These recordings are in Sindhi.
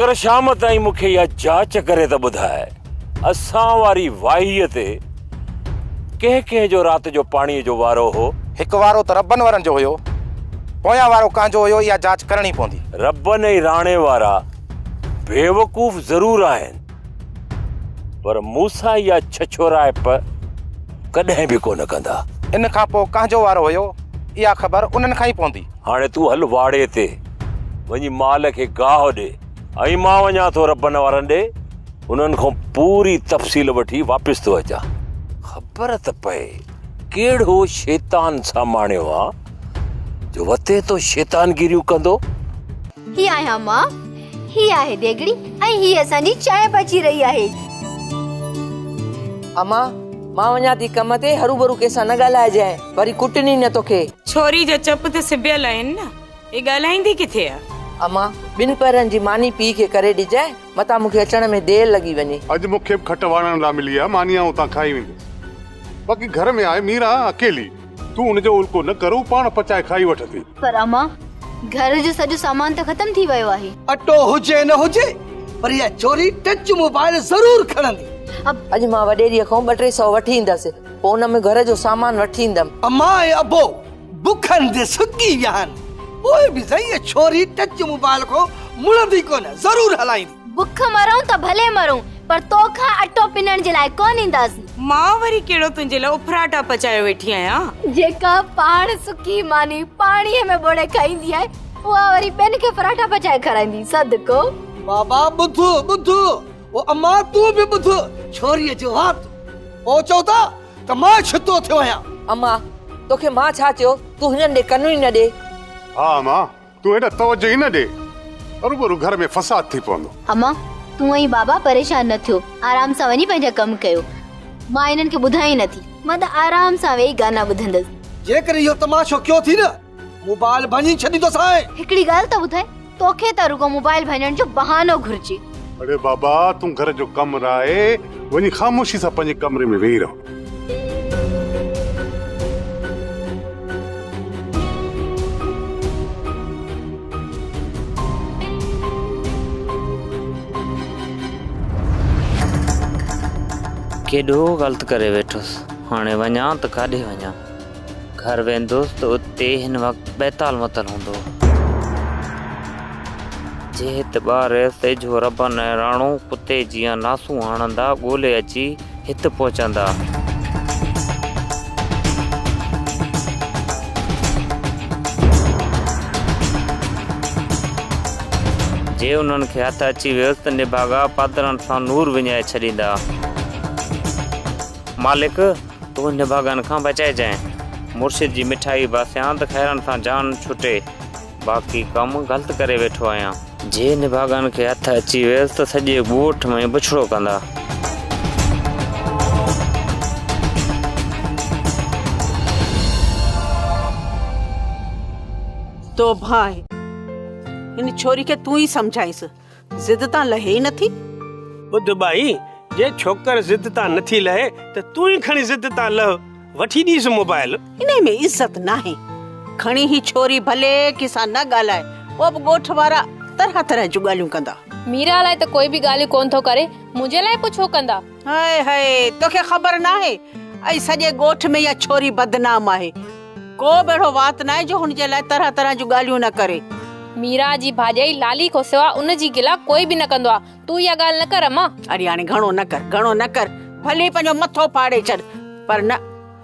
پر شام تائين مون کي اها جاچ ڪري ته ٻڌاء اسان واري واهيء تي ڪنهن ڪنهن جو رات جو پاڻيء جو وارو هو؟ هڪ وارو ته ربن وارن جو هيو، پويان وارو ڪنهن جو هيو اها جاچ ڪرڻي پوندي. ربن ۽ راڻي وارا بيوقوف ضرور آهن پر مون سان اها ڇڇورائپ ڪڏهن به ڪونه ڪندا. ان کان پوء ڪنهن جو وارو هيو اها خبر انهن کان ئي پوندي. هاڻي تون هل واڙي تي، وڃي مال کي گاهه ڏي ۽ مان وڃان ٿو ربن وارن ڏي، انهن کان پوري تفصيل وٺي واپس ٿو اچان. خبر ته پئي ڪهڙو شيطان ساماڻيو آ، جو وتي تو شيطانگيريون ڪندو. هي آهيان مان، هي آهي ديڳڙي ۽ هي اسان جي چانهه پچي رهي آهي. امان! مان وڃان ٿي ڪم تي، هروڀرو ڪنهن سان نه ڳالهائجانء. وري ڪٽين ئي نه توکي. ڇوري جا چپ ته سبيل آهن نه، هي ڳالهائيندي ڪٿي آ؟ امان، ٻن پهرن جي ماني پيء کي ڪري ڏجانء، متان مون کي اچڻ ۾ دير لڳي وڃي. اڄ مون کي به کٽ واڙڻ لاء ملي آ، ماني آئون اتان کائي ويندس. باقي گهر ۾ آهي ميرا اڪيلي، تون ان جو الڪو نه ڪر، هو پاڻ پچائي کائي وٺندي. پر امان، گهر جو سڄو سامان ته ختم ٿي ويو آهي. اٽو هجي نه هجي، پر اها ڇوري ٽچ موبائيل ضرور کڻندي. اڄ مان وڏيريء کان ٻه ٽي سئو وٺي ايندس. پوء ان ۾ گهر جو سامان وٺي ايندم. امان ۽ ابو بک هنڌ سڪي ويا آهن. پوء به سائين اها ڇوري ٽچ موبائل کان مڙندي ڪونه، ضرور هلائيندي. بک مرون ته ڀلي مرون پر تو کان اٽو پنڻ جي لاء ڪونه اينداسين. مان وري ڪهڙو تنهنجي لاء اڦراٽا پچايو ويٺي آهيان. جيڪا پاڻ سڪي ماني پاڻيء ۾ ٻوڙي کائيندي آهي، اها وري ٻين کي پراٺا پچائي کارائيندي. صدقو. بابا ٻڌ ٻڌ. او اما تون به ٻڌ ڇوريء جو وات. او چئو ٿا ته مان ڇتو ٿيو آهيان. اما توکي مان ڇا چيو؟ تون هنن ڏي ڪن ئي نه ڏي. ها اما تون هيڏا توجه ئي نه ڏي هروڀرو گهر ۾ فساد ٿي پوندو. اما تون ۽ بابا پريشان نه ٿيو آرام سان وڃي پنهنجا ڪم ڪيو مان هنن کي ٻڌايان ئي نه ٿي. مان ته آرام سان ويهي گانا ٻڌندس. جيڪڏهن اهو تماشو ڪيو ٿي نه. موبائل ڀڃي ڇڏي توسان. هڪڙي ڳالهه ته ٻڌاء توکي ته رڳو موبائل ڀڃڻ جو بهانو گهرجي. اڙي بابا تون گهر جو ڪم راهي وڃي خاموشي سان پنهنجي ڪمري ۾ ويهي رهو. ڪيڏو غلط ڪري ويٺس هاڻي وڃان ته ڪاڏي وڃان. گهر ويندوس ته اتي هن وقت بيتال متل هوندو. جهت ٻار سيجهو ربن ۽ راڻو ڪتي جيان ناسون هڻندا ڳولي اچي هت پهچندا. جي انهن کي هٿ اچي ويس ته نڀاڳا پادرن سان نور وڃائي ڇڏيندا. مالڪ تون نڀاڳن کان بچائجانء. مرشد جي مٺائي باسيان ته خيرن سان جان ڇٽي، باقي ڪم غلط ڪري ويٺو آهيان. جي نڀاڳن کي هٿ اچي ويس ته سڄي ڳوٺ ۾ بڇڙو ڪندا. توبه آهي هن ڇوري کي تون ئي سمجهائينس. ضد تان لهي ئي نٿي. ٻڌ ٻائي، جي ڇوڪر ضد تان نٿي لهي ته تون ئي کڻي ضد تان لهه، وٺي ڏيس موبائيل. انهي ۾ عزت ناهي. کڻي هي ڇوري ڀلي ڪنهن سان نه ڳالهائي، پوء به ڳوٺ وارا طرح طرح جون ڳالهيون ڪندا. ميرا لاء ته ڪوئي به ڳالهيون ڪونه ٿو ڪري، منهنجي لاء پوء ڇو ڪندا؟ هائي هائي توکي خبر ناهي اڄ سڄي ڳوٺ ۾ اها ڇوري بدنام آهي ڪو به اهڙو وات ناهي جو هن جي لاء طرح طرح جون ڳالهيون نه ڪري. ميرا جي ڀاڄائي لالي کان سواء ان جي گلا ڪوئي به نه ڪندو آهي تون اها ڳالهه نه ڪر امان. اڙي هاڻي گهڻو نه ڪر گهڻو نه ڪر ڀلي پنهنجو مٿو ڦاڙي ڇڏ پر نه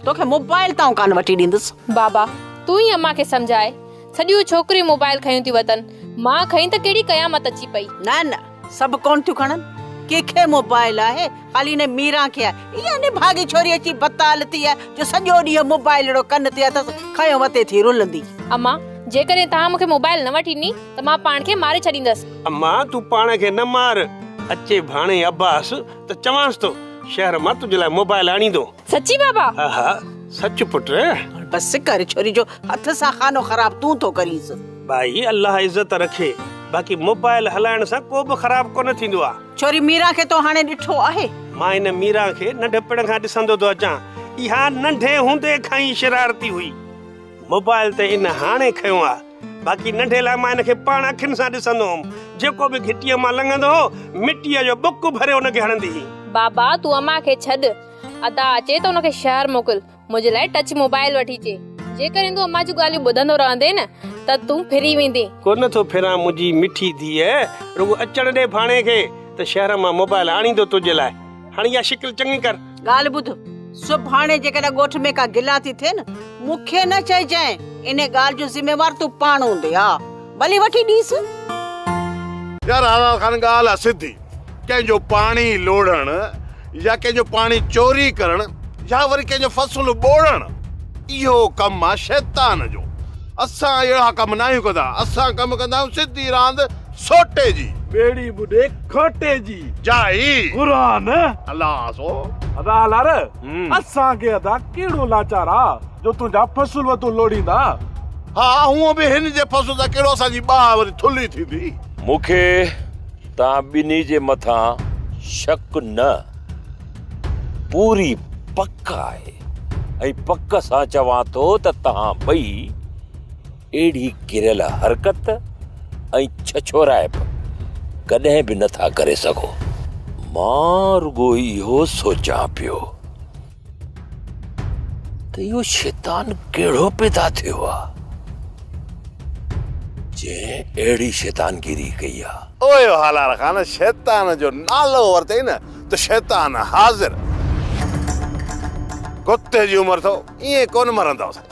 توکي موبائل تائون ڪانه وٺي ڏيندس. بابا تون ئي امان کي سمجهاء سڄيون ڇوڪريون موبائل کنيون ٿيون وتن مان کنئي ته ڪهڙي قيامت اچي پئي. نه نه سڀ ڪون ٿيون کڻن ڪي کي موبائل آهي خالي هن ميران کي آهي اها نڀاڳي ڇوري اچي بتال ٿي آهي جو سڄو ڏينهن موبائل اهڙو ڪن تي اٿس کنيو وتي ٿي رلندي. اما جيڪڏهن توهان مون کي موبائل نه وٺي ڏني ته مان پاڻ کي ماري ڇڏيندس. اما تون پاڻ کي نه مار اچي ڀاڻي عباس ته چوانس ٿو شهر مان تنهنجي لاء موبائل آڻيندو. سچي بابا ها ها سچ پٽ بس ڪر ڇوري جو هٿ سان خانو خراب تون ٿو ڪرينس ڀائي الله عزت رکي باقي موبائل هلائڻ سان ڪو به خراب ڪونه ٿيندو آ ڇوري ميران کي تو هاڻي ڏٺو آهي مان هن ميران کي ننڍپڻ کان ڏسندو ٿو اچان اها ننڍي هوندي کان ئي شرارتي هئي موبائل ته ان هاڻي کنيو آ باقي ننڍي لاء مان هن کي پاڻ اکين سان ڏسندو هوم جيڪو به گهٽيء مان لنگهندو هو مٽيء جو ٻڪ ڀري ان کي هڻندي هئي بابا تون امان کي ڇڏ ادا اچي ته ان کي شهر موڪل منهنجي لاء ٽچ موبائل وٺي اچي جيڪڏهن تون امان جون ڳالهيون ٻڌندو رهندين نه ته تون ڦري ويندين. ڪونه ٿو ڦران منهنجي مٺي ڌيء رڳو اچڻ ڏي ڀاڻي کي ته شهر مان موبائل آڻيندو تنهنجي لاء هاڻي اها شڪل چڱي ڪر. ڳالهه ٻڌ سڀاڻي جيڪڏهن ڳوٺ ۾ ڪا گلا ٿي ٿئي نه مون کي نه چئجانء انهي ڳالهه جو ذميوار تون پاڻ هوندين ها. ڀلي وٺي ڏيس. يار حلال خان ڳالهه آ سڌي ڪنهن جو پاڻي لوڙهڻ يا ڪنهن جو پاڻي چوري ڪرڻ يا وري ڪنهن جو فصل ٻوڙڻ اهو ڪم آ شيطان جو اسان اهڙا ڪم ناهيون ڪندا اسان ڪم ڪندا آهيون سڌي راند سوٽي جي ٻيڙي ٻڏي کوٽي جي جا هي قرآن الله سو ادا لار. اسان کي ادا ڪهڙو لاچار آ جو تنهنجا فصل وتون لوڙيندا. ها هونء به هن جي فصل سان ڪهڙو اسان جي ٻانهن وري ٿلهي ٿيندي. مون کي توهان ٻنهي جي مٿان شڪ نه پوري پڪ آهي ۽ پڪ سان چوان ٿو ته توهان ٻئي اهڙي ڪريل حرڪت ۽ ڇڇورائپ ڪڏهن به نٿا ڪري سگهو. مان رڳو اهو سوچان پيو ته اهو شيطان ڪهڙو پيدا ٿيو آ جنهن اهڙي شيطانگيري ڪئي آ. او هالار خان شيطان جو نالو ورتئي نه ته شيطان حاضر. ڪتي جي عمر اٿو ائين ڪونه مرندؤ سائين.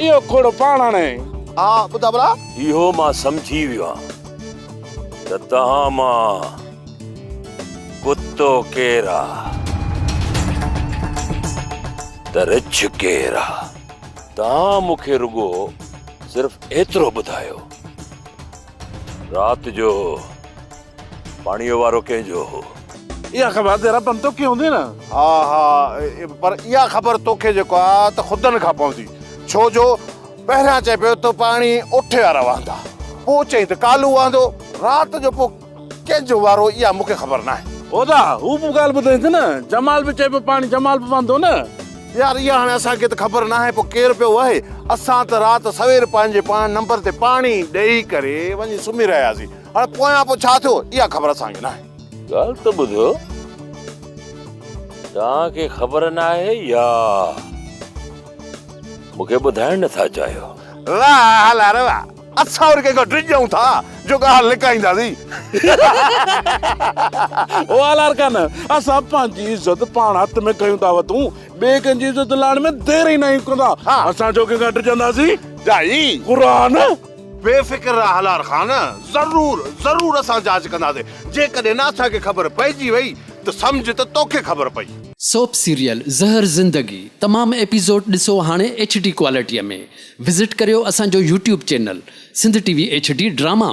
اهو کوڙ پاڻ آڻي. ها ٻڌاء ڀلا. اهو مان سمجهي ويو آهيان ته توهان مان ڪتو ڪير آ ته رڇ ڪير آ. توهان مون کي رڳو صرف ايترو ٻڌايو رات جو. پاڻيء وارو ڪنهن جو هو؟ اها خبر ادي رتن توکي هوندي نه؟ ها ها پر اها خبر توکي جيڪو آ ته خدن کان پوندي ڇو جو پهريان چئي پيو ته پاڻي اٺي وارا وهندا پوء چئين ته ڪالو وهندو رات جو پوء ڪنهن جو وارو اها مون کي خبر ناهي. هودا هو به ڳالهه ٻڌائين ٿي نه جمال به چئي پيو پاڻي جمال به وهندو نه. يار اها هاڻي اسان کي ته خبر ناهي پوء ڪير پيو وهي اسان ته رات سوير پنهنجي پاڻ نمبر تي پاڻي ڏئي ڪري وڃي سمهي رهياسين هاڻي پويان پوء ڇا ٿيو، اها خبر اسان کي ناهي. ڳالهه ته ٻڌو، توهان کي خبر ناهي يا مون کي ٻڌائڻ نٿا چاهيو؟ واه هلا ري واه، اسان وري ڪنهن کان ڊڄون ٿا جو ڳالهه لڪائينداسين. او هالارڪان، اسان پنهنجي عزت پاڻ هٿ ۾ کنيون ٿا وتون، ٻئي ڪنهن جي عزت لاهڻ ۾ دير ئي ناهيون ڪندا. اسان ڇو ڪنهن کان ڊڄنداسين؟ جا هي. قرآن. بي فڪر رهه هلار خان، ضرور ضرور اسان جاچ ڪنداسين، جيڪڏهن نه اسان کي خبر پئجي وئي ته سمجهه ته توکي خبر پئي. سوپ سيريل زهر زندگي تمام ايپيزوڊ ڏسو هاڻي ايڇ ڊي ڪوالٽيء ۾ وزٽ ڪريو اسان جو YouTube channel Sindh T V H D drama.